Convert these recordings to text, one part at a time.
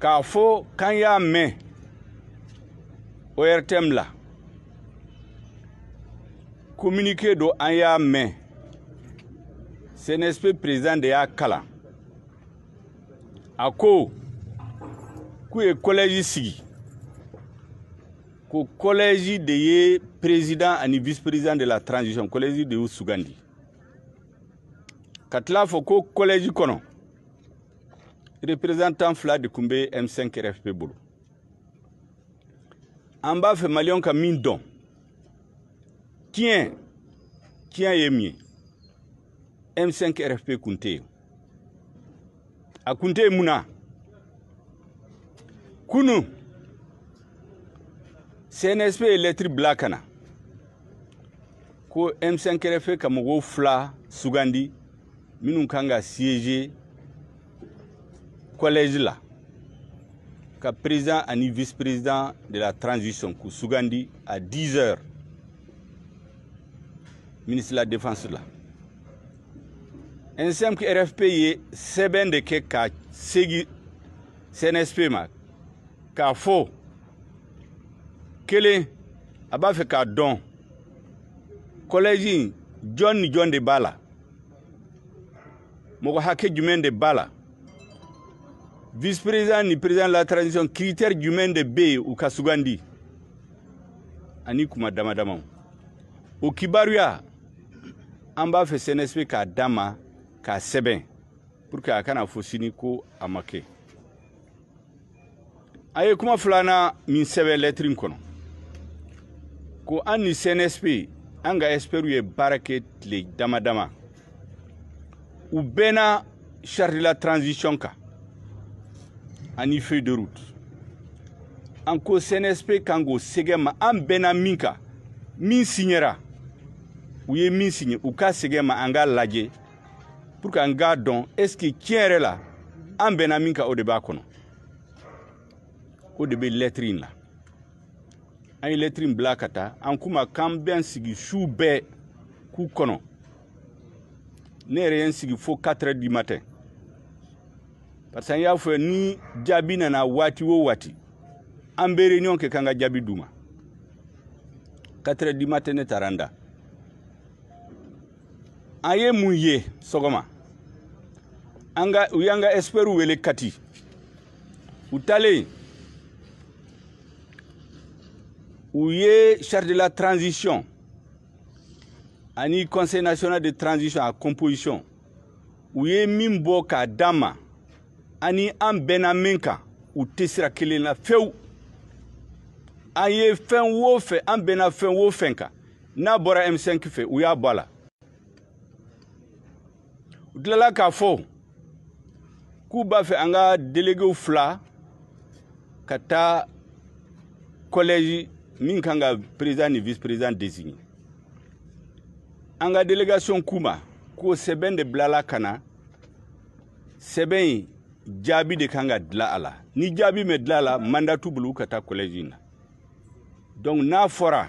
k'a fɔ k'an y'a mɛn ORTM la communiqué don an y'a mɛn CNSP président de y'a kalan a ko k'u ye kɔlɛji sigi ko kɔlɛji de ye président ani vice président de la transition kɔlɛji de y'u sugandi ka tila fɔ ko kɔlɛji kɔnɔ représentant fila de tun bɛ M5 RFP bolo an b'a fɛ maliyɛnw ka min dɔn tiɲɛ tiɲɛ ye min ye M5 RFP kun tɛ yen a kun tɛ yen mun na kunu CNSP ye lɛtiri bila ka na ko M5 RFP ka mɔgɔ fila sugandi minnu kan ka siéger collège la ka président ani vice président de la transition k'u sugandi à 10 heures ministre de la défense la M5 RFP ye sɛbɛn de kɛ ka segi cnsp ma k'a fɔ kelen a b'a fɛ k'a dɔn kɔlɛji in jɔn ni jɔn de b'a la mɔgɔ hakɛ jumɛn de b'a la vice président ni président de la transition critère jumɛn de bɛ yen u ka sugandi ani kuma dama damaw o kibaruya an b'a fɛ cnsp k'a d'an ma k'a sɛbɛn pour que a kana fɔ sini ko a ma kɛ an ye kuma filanan min sɛbɛn lɛtiri in kɔnɔ ko an ni cnsp an ka ɛsipɛriw ye baara kɛ tile dama dama u bɛnna charte de la transition kan ani feuille de route an ko cnsp kan k'o segi an ma an bɛnna min kan min siɲɛra u ye min siɲɛ u k'a segi an ma an k'a lajɛ pour que an k'a dɔn est ce que tiɲɛ yɛrɛ la an bɛnna min kan o de b'a kɔnɔ o de bɛ lɛtiri in la an ye lɛtiri in bila ka taa an k'u ma k'an bɛ an sigi su bɛɛ k'u kɔnɔ ne yɛrɛ ye n sigi fo 4 heures du matin parce que an y'a fɔ ni jaabi nana waati o waati an bɛ réunion kɛ k'an ka jaabi d'u ma 4 heures du matin ne taara n da an ye mun ye sɔgɔma an ka u y'an ka ɛsipɛriw wele kati u taalen u ye charte de la transition ani conseil national de transition a composition u ye min bɔ k'a d'an ma ani an bɛnna min kan u tɛ sira kelen na fewu an ye fɛn o fɛn an bɛnna fɛn o fɛn kan n'a bɔra M5 fɛ u y'a bɔ a la u tilala k'a fɔ k'u b'a fɛ an ka delegew fila ka taa kɔlɛji min kan ka président ni vice président désigner an ka délégation k'u ma ko sɛbɛn de bilala ka na sɛbɛn in jaabi de kan ka dila a la ni jaabi mɛ dila a la mandat t'u bolo ka taa kɔlɛji in na donc n'a fɔra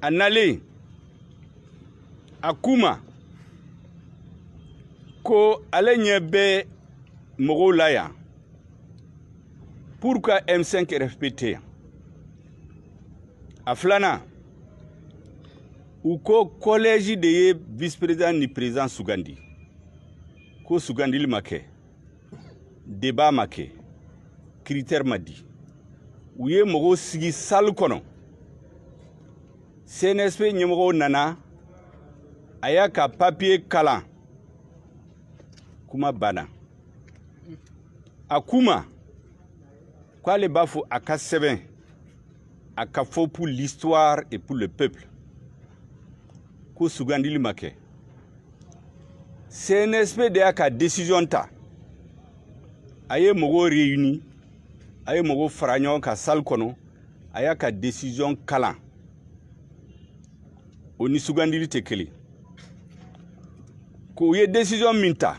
a nalen a k'u ma ko ale ɲɛ bɛ mɔgɔw la yan pourquoi m5 rfp tɛ yan a filanan u ko kɔlɛji de ye vice président ni président sugandi ko sugandili ma kɛ débat ma kɛ critère ma di u ye mɔgɔw sigi salle kɔnɔ cnsp ɲɛmɔgɔ nana a y'a ka papiye kalan kuma banna a kuma k'ale b'a fɔ a ka sɛbɛn a ka fɔ pour l'histoire et pour le peuple ko sugandili ma kɛ cnsp de y'a ka décision ta a ye mɔgɔw réuni a ye mɔgɔw fara ɲɔgɔn kan salle kɔnɔ a y'a ka décision kalan o ni sugandili tɛ kelen k'o ye décision min ta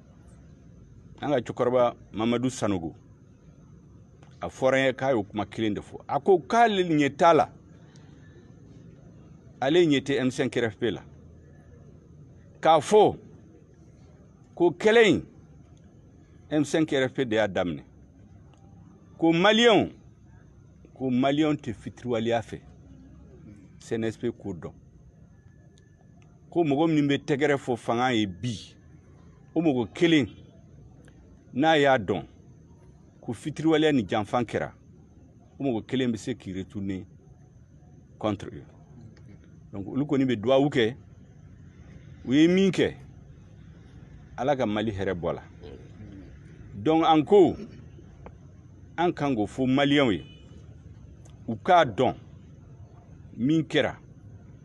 an ka cɛkɔrɔba mamadu sanogo a fɔra n ye k'a y'o kuma kelen de fɔ a ko k'ale ɲɛ t'a la ale ɲɛ tɛ m5 rfp la k'a fɔ ko kɛlɛ in m5 rfp de y'a daminɛ ko maliyɛnw ko maliyɛnw tɛ fitiriwaleya fɛ cnsp k'o dɔn ko mɔgɔ min bɛ tɛgɛrɛ fɔ fanga ye bi o mɔgɔ kelen n'a y'a dɔn ko fitiriwaleya ni janfa kɛra o mɔgɔ kelen bɛ se k'i retourner contre eux donc olu kɔni bɛ duwawu kɛ u ye min kɛ ala ka mali hɛrɛ bɔ a la donc an ko an kan k'o fɔ maliyɛnw ye u k'a dɔn min kɛra